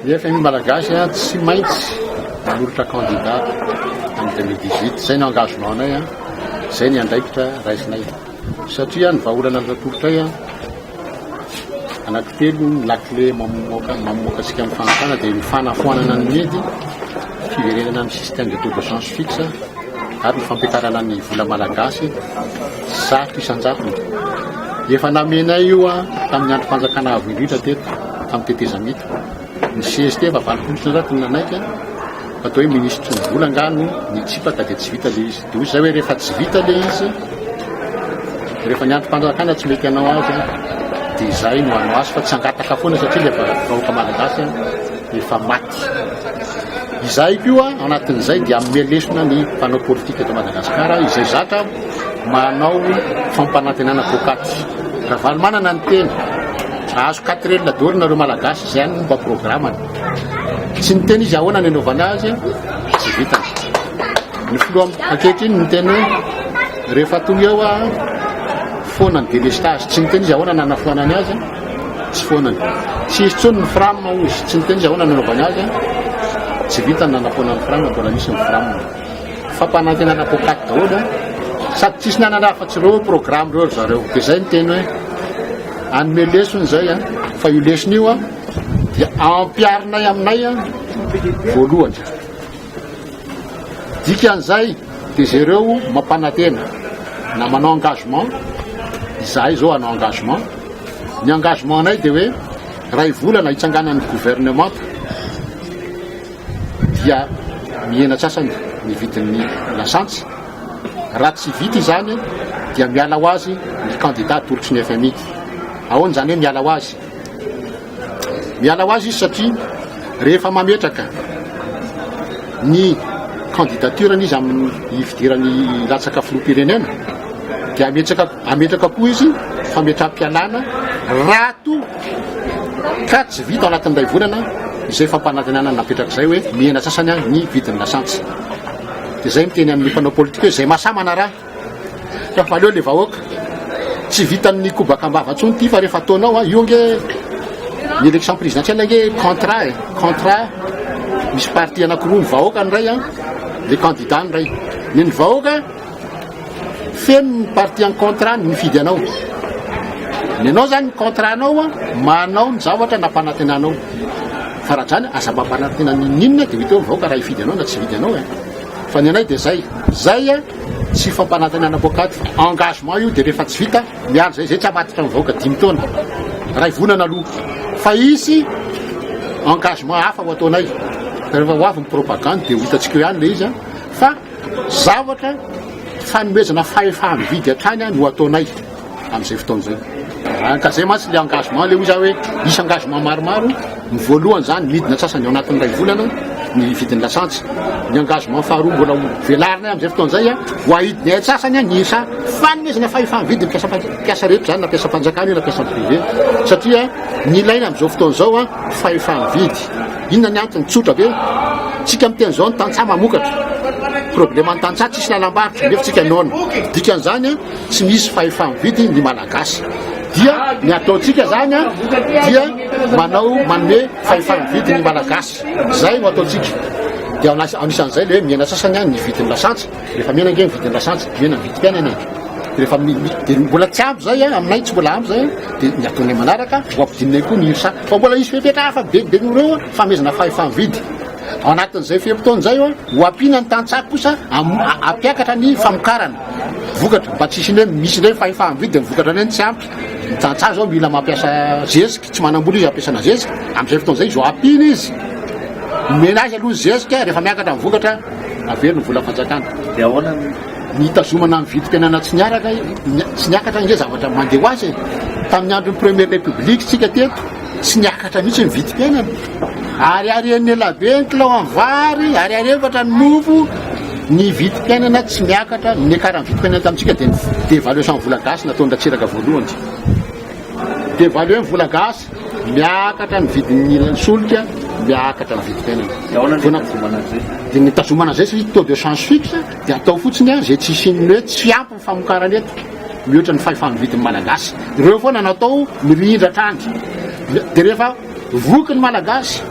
Ny fmi malagasy a tsy maintsy manolotra candidat am deux mille dix huit zay no engagement nay a zay ny andraikitra raisinay satria ny vahaolana azo atolotray a anankitelo ny lakile mamoaka mamoaka antsika am fahantrana dia ny fanafoanana ny medy fiverenana am système de taux de change fixe ary ny fampiakarana ny vola malagasy Zato isan-jatony. Efa namenay io tamin'ny androm-panjakana avo indrindra teto, tamin'ny tetezamita. Ny CST efa valopolo isan-jatony no nanaiky fa toa hoe minisitry ny vola angaha no nitsipaka dia tsy vita ilay izy. Dia hoy izay hoe rehefa tsy vita ilay izy, rehefa ny androm-panjakana tsy mety hanao azy dia izahay no hanao azy fa tsy hangataka foana satria ilay vahoaka malagasy efa maty. Izahay koa anatin'izay dia hanome lesona ny mpanao politika eto Madagasikara izay zatra manao fampanantenana poakaty. Ravalomanana ny teny, ahazo quatrelle d'or nareo Malagasy izay any no mba programany. Tsy niteny izy ahoana ny anaovana azy fa tsy vitany. Ny filoha ankehitriny niteny hoe rehefa tonga eo foana ny delestage, tsy niteny izy ahoana nanafoanany azy. Tsy foana ny. Tsy hisy intsony ny fram hoy izy. Tsy niteny izy ahoana ny hanaovany azy an. Tsy vita ny nanapoana ny fram, mbola misy ny fram. Fampanantenana poakaty daholo an. Sady tsisy nanana afa tsy ireo programme ireo ry zareo. Dia izay ny teny hoe hanome lesona izay an. Fa io lesona io an dia ampiharinay aminay an voalohany. Dikan'izay dia jereo mampanantena na manao engagement, izahay izao hanao engagement, ny engagement-nay dia hoe iray volana hitsanganan'ny governemanta dia mihena sasany ny vidin'ny lasantsy, raha tsy vita izany dia miala ho azy ny kandida atolotry ny fmi. Ahoana izany hoe miala ho azy? Miala ho azy izy satria rehefa mametraka ny candidature-ny izy amin'ny hifidirany hilatsaka filoham-pirenena dia hametraka hametraka koa izy fametraham-pialana raha toa ka tsy vita ao anatin'ny iray volana izay fampanantenana napetraka izay hoe mihena sasany ny vidin'ny lasantsy. Dia izay miteny amin'ny mpanao politika hoe izay mahasahy manaraha. Ka valeo le vahoaka. Tsy vitan'ny kobaka am-bava intsony ity fa rehefa ataonao an, io ange ny election présidentielle ange contrat e, contrat misy parti anakiroa, ny vahoaka ny iray an, le candidat ny iray. Le ny vahoaka feno ny parti en contrat ny mifidy anao. Le anao zany ny contrat nao an, manao ny zavatra nampanantenanao. Fa raha zany aza mampanantena n'inon'inona de ho ita eo ny vahoaka raha hifidy anao na tsy hifidy anao e. Fa ny anay de zay, zay an. Tsy fampanantenana poakaty. Engagement io dia rehefa tsy vita miandry zay zay tsy hamaditra ny vahoaka dimy taona. Ray vonana aloha fa hisy engagement hafa ho ataonay. Rehefa ho avy ny propagande dia ho hitantsika eo ihany ilay izy fa zavatra fanomezana fahefa-mividy hatrany no ataonay. Amin'izay fotoana izay. Raha ka izay mantsy ilay engagement, ilay hoy izaho hoe hisy engagement maromaro, ny voalohany izany midina antsasany ao anatin'ny iray volana ny vidin'ny lasantsy. Ny engagement faharoa mbola ho velarinay amin'izay fotoana izay, ho ahidinay antsasany ny isa fanomezana fahefana vidin'ny mpiasa mpiasa rehetra izany na mpiasam-panjakana io na mpiasa privé satria ny ilaina amin'izao fotoana izao fahefana vidy. Inona ny antony? Tsotra be. Tsika miteny izao ny tantsaha mamokatra. Problème ny tantsaha tsisy lalam-barotra nefa tsika noana. Dikan'izany tsy misy fahefa-mividy ny Malagasy dia ny ataontsika zany a dia manao manome fahefa-mividy ny Malagasy zay no ataontsika dia anisan'izay le hoe mihena sasany a ny vidin'ny lasantsy rehefa mihena ange ny vidin'ny lasantsy mihena ny vidim-piainana e rehefa amin'ny dia mbola tsy ampy zay a aminay tsy mbola ampy zay dia ny ataonay manaraka ho ampidinay koa ny irsa fa mbola hisy fepetra hafa be be noho ireo fanomezana fahefa-mividy ao anatin'izay fe-potoana izay a ho ampiana ny tantsaha kosa am- hampiakatra ny famokarana Vokatra, fa tsisy indray misy indray fahefana mividy dia ny vokatra indray no tsy ampy, ny tantsaha izao mila mampiasa zezika, tsy manam-bola izy ampiasana zezika, amin'izay fotoana izay izao ampiana izy, omena azy aloha ny zezika, rehefa miakatra ny vokatra averiny ny vola fanjakana. Dia ahoana ny hitazomana ny vidim-piainana tsy niaraka, tsy niakatra ange zavatra mandeha ho azy e! Tamin'ny andron'ny Première République tsika teto, Tsy niakatra mihitsy ny vidim-piainana. Ariary enina ela be ny kilao amin'ny vary, ariary efatra ny mofo, ny vidim-piainana tsy miakatra. Ny niakaran'ny vidim-piainana tamintsika dia ny devaluation vola gasy nataon-dRatsiraka voalohany izay. Devalue ny vola gasy, miakatra ny vidin'ny solika, miakatra ny vidim-piainana. Dia ahoana no nitazomana an'izay? Dia nitazomana an'izay satria taux de change fixe dia atao fotsiny an, izay tsy hisian'ny hoe tsy ampy. famokarana eto mihoatra ny fahefany vidiny malagasy ireo foana natao mirindra hatrany dia rehefa voky ny malagasy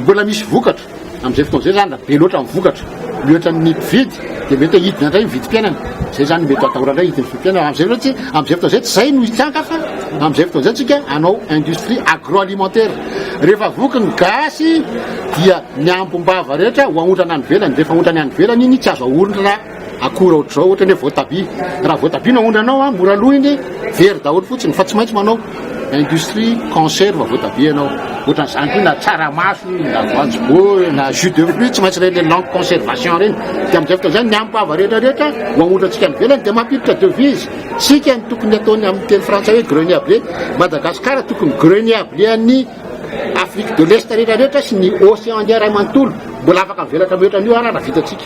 mbola misy vokatra amin'izay fotoana izay zany raha be loatra ny vokatra mihoatra ny mpividy dia mety hidina indray ny vidim-piainana izay zany mety atahora indray hidiny vidim-piainana amin'izay loatra tsy amin'izay fotoana izay tsy izay no hitanka fa amin'izay fotoana izay tsika anao industrie agroalimentaire rehefa voky ny gasy dia ny ambom-bava rehetra ho aondrana any velany rehefa aondrany any velany iny tsy azo ahorona Akora ohatr'izao ohatra ny hoe voatabia, raha voatabia no aondranao an, mora lo iny, very daholo fotsiny, fa tsy maintsy manao industrie conserve voatabia ianao, ohatran'izany koa na tsaramaso, na voanjoboa, na jus de fruit, tsy maintsy ireny longue conservation ireny, dia amin'izay fotoana izay ny hampava rehetra rehetra ho aondrantsika any ivelany dia mampiditra devises, isika no tokony ataony amin'ny teny frantsay hoe greniable, Madagascar tokony greniable an'ny. Afrique de l'Est rehetra rehetra sy ny Océan Indien iray manontolo mbola afaka mivelatra mihoatra an'io arara vitantsika.